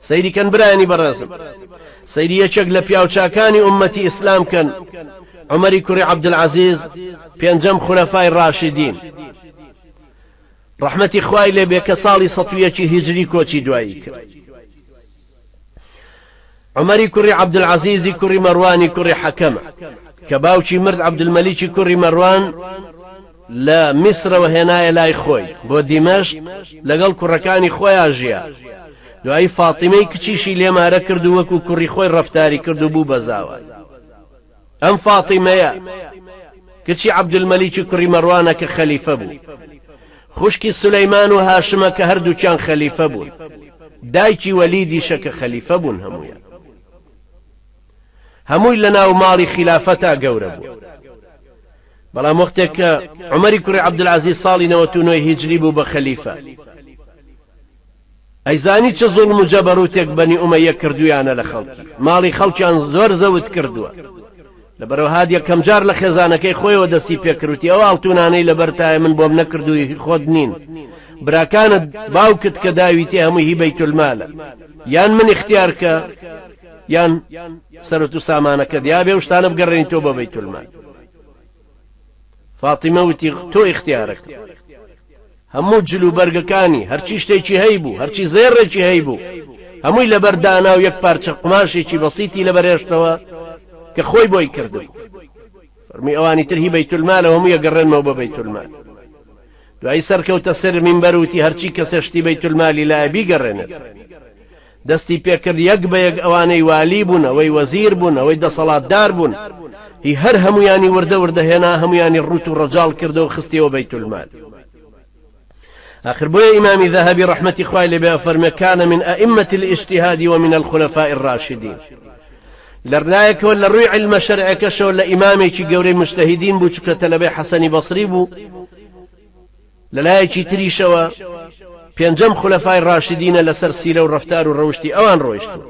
سەیری کەن برایانی بەڕێزم سەیری یەکێک لە پیاو چاکانی ئومەتی ئیسلام کەن عومەری کوڕی عەبدولعەزیز پێنجەم خولەفای ڕاشیدین ڕەحمەتی خوای لێ بێ کە ساڵی سەد و یەکی هیجری کۆچی دوایی کرد عومەری کوڕی عەبدولعەزیزی کوڕی مەڕوانی کوڕی حەکەمە کە باوکی مرد عەبدولمەلیکی کوڕی مەڕوان لە میسرەوە هێنایە لای خۆی بۆ دیمەشق، لەگەڵ کوڕەکانی خۆیا ژیا. دوایی فاتیمەی کچیشی لێ مارە کرد و وەکوو کوڕی خۆی ڕەفتاری کرد و بوو بە زاوای. ئەم فاتیمەیە، کچی عەبدولمەلیکی کوڕی مەڕوانە کە خەلیفە بوو. خوشکی سولەیمان و هاشمە کە هەر دووکیان خەلیفە بوون. دایکی وەلیدیشە کە خەلیفە بوون هەموویان. هەمووی لەناو ماڵی خیلافەتا گەورە بوون. بەڵام وەختێک کە عومەری کوڕی عەبدولعەزیز ساڵی نەوەت و نۆی هیجری بوو بە خەلیفە، ئەیزانی چ زوڵم و جەبەروتێک بەنی ئومەیە کردوویانە لە خەڵکی، ماڵی خەڵکیان زۆر زەوت کردووە، لەبەرەوە هاد یەکەم جار لە خێزانەکەی خۆیەوە دەستی پێ کرد وتی، ئەو ئاڵتوونانەی لەبەرتایە من بۆم نەکردووی هی خۆت نین، براکانت، باوکت کە داویتێ هەمووی هی بەیتولمالە، یان من ئیختیارکە، یان سەروەت و سامانەکەت یابێ و شتانە بگەڕێنیتەوە بۆ بەیتولمال. فاتیمە وتی، تۆ ئیختیارەکەم. هەموو جل و بەرگەکانی، هەرچی شتێکی هەیبوو، هەرچی زێڕێکی هەیبوو، هەمووی لەبەر دانا و یەک پارچە قوماشێکی بەسیتی لەبەر هێشتەوە کە خۆی بۆی کردبوو. فەرمووی، ئەوانی تر هی بەیتولمالە و هەمووی ئەگەڕێنمەوە بۆ بەیتولمال. دوایی سەرکەوتە سەر مینبەر و وتی، هەرچی کەسێک شتی بەیتولمالی لایە بیگەڕێنێتەوە. دەستی پێکرد یەک بە یەک ئەوانەی والی بوون ئەوەی وەزیر بوون ئەوەی دەسەڵاتدار بوون هی هەر هەموویانی وردە وردە هێنا هەموویانی ڕووت و ڕەجاڵ کردەوە خستیەوە بەیتولمال ئاخر بۆیە ئیمامی ذەهەبی ڕەحمەتی خوای لێ بێ ئەفەرمێ کان من ائمە الاجتهاد ومن الخلفاء الراشدین لەرلایەکەوە لە ڕووی علمە شەرعەکەشەوە لە ئیمامێکی گەورەی مجتهدین بوو چونکە تەلەبەی حەسەنی بەسری بوو لەلایەکی تریشەوە پێنجەم خولەفای ڕاشیدینە لەسەر سیرە و ڕەفتار و ڕەوشتی ئەوان ڕۆیشتوون.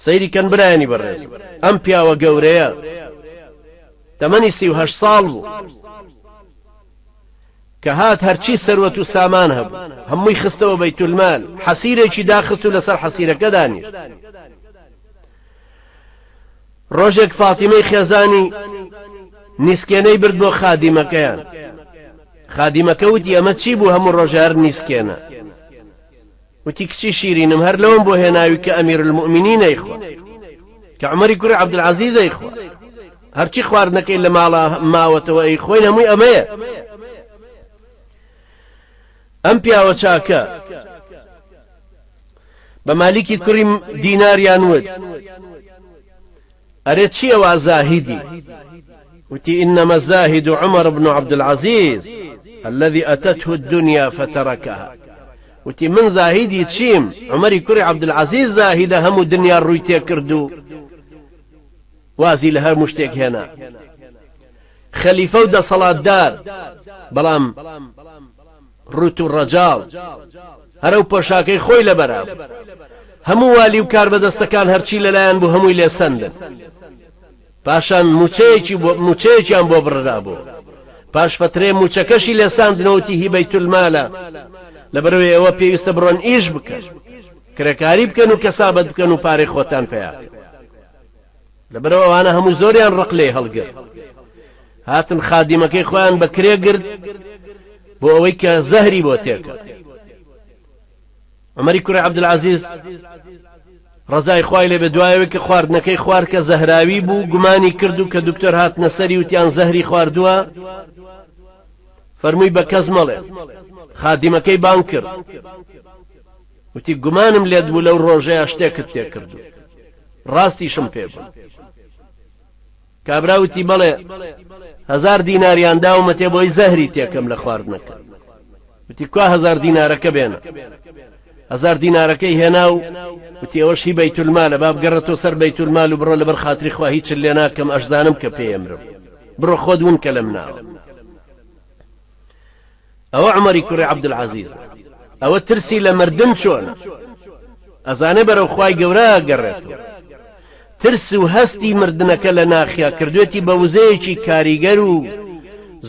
سەیری کەن برایانی بەڕێز ئەم پیاوە گەورەیە تەمەنی سی و هەشت ساڵ بوو کە هات هەرچی سەروەت و سامان هەبوو هەمووی خستەوە بەیتولمال حەسیرێکی داخست و لەسەر حەسیرەکە دانیشت ڕۆژێک فاتیمەی خێزانی نیسکێنەی برد بۆ خادیمەکەیان خادیمەکە وتی ئەمە چی بوو هەموو ڕۆژار نیسکێنە وتی کچی شیرینم هەر لەوم بۆ هێناوی کە ئەمیر المؤمنی نەیخوا کە عمەری کوری عبدالعزیزەی خوا هەرچی خواردنەکەی لە ماڵە ماوەتەوە ئەی خۆین هەمووی ئەمەیە ئەم پیاوە چاکە بە مالیکی کوڕی دیناریان وت ئەرێ چی ئەوە زاهیدی وتی إنما الزاهد عمر بن عبد العزيز الذي أتته الدنيا فتركها وتی من زاهیدی چیم عمری کوری عبدالعزیز زاهیدە هەموو دنیا ڕووی تێکردو وازی لە هەموو شتێک هێنا خەلیفە و دەسەڵاتدار، بەڵام ڕووت و ڕەجاڵ هەر ئەو پۆشاکەی خۆی لەبەرا بوو. هەموو والی و کاربەدەستەکان هەرچی لەلایان بوو هەمووی لێ سەندن. پاشان مووچەیەکی بۆ مووچەیەکیان بۆ بڕرا بۆ پاش فەترەیە مووچەکەشی لێ ساندنەوە وتی هی بەیتولمالە لەبەرەوەی ئێوە پێویستە بڕۆن ئیش بکەن کرێکاری بکەن و کەسابەت بکەن و پارەی خۆتان پەیا بکەن. لەبەرەوە ئەوانە هەموو زۆریان ڕق لێ هەڵگر هاتن خادیمەکەی خۆیان بە کرێ گرت بۆ ئەوەی کە زەهری بۆ تێکە عمەری کوڕی عبدعزیز ڕزای خوای لێ بە دوایەوە کە خواردنەکەی خوارد کە زەهراوی بوو گومانی کرد و کە دکتۆر هات نەسەری وتیان زەهری خواردووە فەرمووی بە کەس مەڵێ خادیمەکەی بان کرد وتی، گومانم لێت بوو لەو ڕۆژەیا شتێکت پێ کردووم. ڕاستیشم پێ بووی. کابرا وتی، بەڵێ، هەزار دیناریان داومەتێ بۆی زەهری تێ کەم لە خواردنەکە. وتی، کوا هەزار دینارەکە بێنە. هەزار دینارەکەی هێنا و وتی، ئەوەش هی بەیتولمالە، با بگەڕێتەوە سەر بەیتولمال و بڕۆ لەبەر خاتری خوا هیچت لێ ناکەم، ئەشزانم کە پێیەمرم. بڕۆ خۆت ون کە لەم ناوە. ئەوە عومەری کوڕی عبدالعزیزە ئەوە ترسی لە مردن چۆنە ئەزانێ بەرەو خوای گەورە ئەگەڕێتەوە ترس و هەستی مردنەکە لە ناخیا کردوێتی بە وزەیەکی کاریگەر و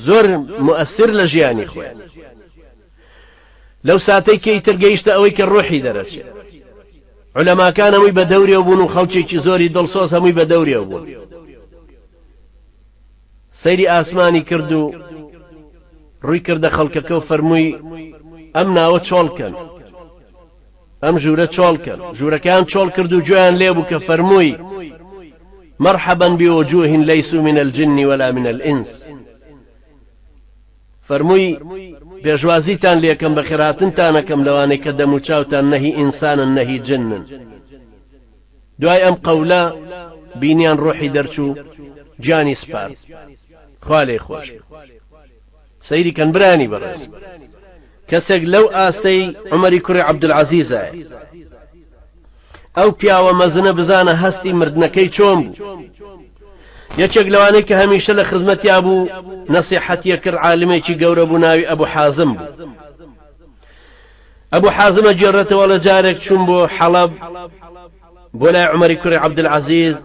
زۆر موئەسر لە ژیانی خۆی لەو ساتەی کە ئیتر گەیشتە ئەوەی کە ڕۆحی دەرەچێت علەماکان هەمووی بە دەورێ بوون و خەڵکێکی زۆری دڵسۆز هەمووی بە دەورێ بوون سەیری ئاسمانی کرد و ڕووی کردە خەڵکەکە و فەرمووی، ئەم ناوە چۆڵ کەن، ئەم ژوورە چۆڵ کەن. ژوورەکەیان چۆڵ کرد و گوێیان لێ بوو کە فەرمووی، مرحبا بوجوه لیسوا من الجن ولا من الانس. فەرمووی، پێشوازیتان لێ کەم، بەخێرهاتنتان ئەکەم لەوانەی کە دەموچاوتان نە هی ئینسانن نە هی جنن. دوای ئەم قەولە بینیان ڕۆحی دەرچوو گیانی سپارد خوا لێی خۆش بێ سەیری کەن برانی بەڕێز کەسێک لەو ئاستەی عمەری کوڕی عەبدولعەزیزایە ئەو پیاوە مەزنە بزانە هەستی مردنەکەی چۆن بوو یەکێک لەوانەی کە هەمیشە لە خزمەتیا بوو نەسیحەتیە کرد عالمێکی گەورە بوو ناوی ئەبوو حازم بوو ئەبو حازم ئەگێڕێتەوە ڵێ جارێک چووم بۆ حەڵەب بۆ لای عومەری کوڕی عەبدولعەزیز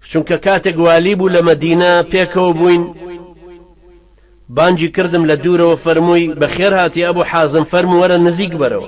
چونکە کاتێک والی بوو لە مەدینە پێکەوە بووین بانگی کردم لە دوورەوە فەرمووی بەخێرهاتی ئەبو حازم فەرموو وەرە نزیک بەرەوە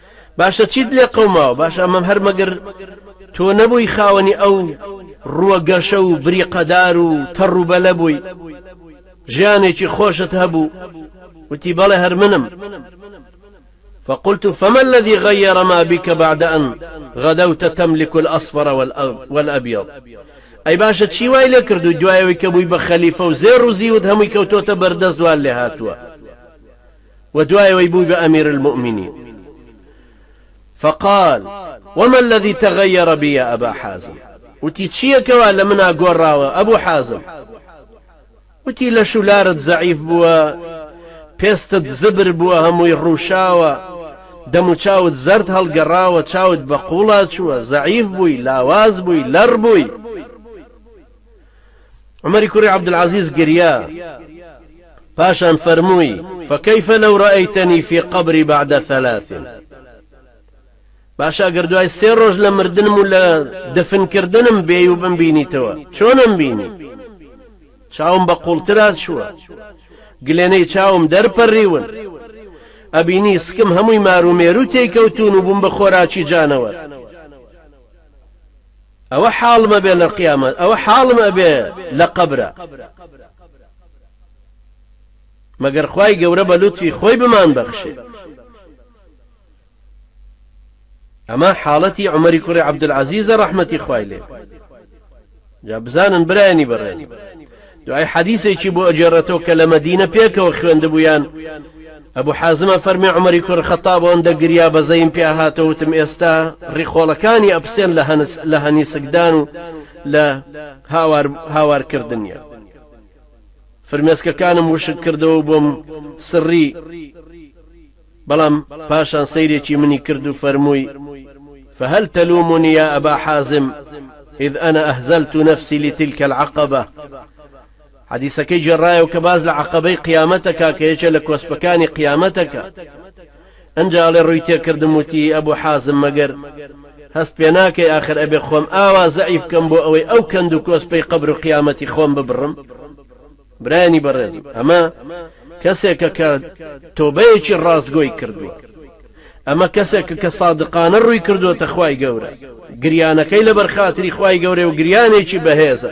باشە چیت لێ قەوماوە باشە ئەمە هەر مەگەر تۆ نەبووی خاوەنی ئەو ڕووە گەشە و بریقەدار و تەڕ و بەلە بووی ژیانێکی خۆشت هەبوو وتی بەڵێ هەر منم فقلت فما الذي غير ما بك بعد أن غدوت تملك الأصفر والأبيض ئەی باشە چی وای لێ کردو دوایەوەی کە بووی بە خەلیفە و زێر و زیوت هەمووی کەوتۆتە بەردەست دوال لێ هاتووە و دوای ئەوەی بووی بە امیر المومنین فقال، وما الذی تغیر بی یا ابا حازم، وتی چیە کەوا لە منا گۆڕاوە ابو حازم، وتی لەش و لارت زەعیف بووە، پێستت زبر بووە هەمووی ڕووشاوە، دەم و چاوت زەرد هەڵگەڕاوە، چاوت بە قوڵا چووە، زەعیف بووی، لاواز بووی، لەڕ بووی. عومەری کوڕی عەبدولعەزیز گریا، پاشان فەرمووی، فکیف لو رایتنی فی قبری بعد ثلاث، باشە ئەگەر دوای سێ ڕۆژ لە مردنم و لە دەفن کردنم بێی و بمبینیتەوە، چۆنم بینی؟ چاوم بە قوڵترا چووە، گلێنەی چاوم دەرپەڕیون، ئەبینی سکم هەمووی مارومێرو تێیکەوتوون و بووم بە خۆراکی جانەوەر. ئەوە حاڵم ئەبێ لە قیامەت ئەوە حاڵم ئەبێ لە قەبرا مەگەر خوای گەورە بە لوتفی خۆی بمان بەخشێ ئەمە حاڵەتی عمەری کوڕی عبدالعزیزە ڕەحمەتی خوای لێ جا بزانن برایانی بەڕێز دوای حەدیسێکی بۆ ئەگێڕێتەوە کە لە مەدینە پێکەوە خوێندبوویان، ئەبو حازم ئەفەرمێ عومەری کوڕ خەتاب ئەوەندە گریا بەزەیم پیا هاتەوە وتم ئێستا ڕیخۆڵەکانی ئەپسێن لە هەنس لە هەنیسکدان و لە هاوار هاوار کردن نیە فرمێسکەکانم وشک کردەوە و بۆم سڕی، بەڵام پاشان سەیرێکی منی کرد و فەرمووی، فهل تلومنی یا ابا حازم اذ انا اهزلت نفسی لتلک العقبە، حەدیسەکەی گێڕایەوە کە باس لە عەقەبەی قیامەت دەکات کە یەکێ لە کۆسپەکانی قیامەتەکە، ئەنجا ئەڵێ ڕووی تێکردم وتی، ابو حازم مەگەر هەست پێ ناکەی ئاخر ئەبێ خۆم ئاوا زەعیف کەم بۆ ئەوەی ئەو کەند و کۆسپەی قەبر و قیامەتی خۆم ببڕم؟ برایانی بەڕێزم ئەمە کەسێکە کە تۆبەیەکی ڕاستگۆی کردووە ئەمە کەسێکە کە سادقانە ڕووی کردووەتە خوای گەورە گریانەکەی لەبەر خاتری خوای گەورەی و گریانێکی بەهێزە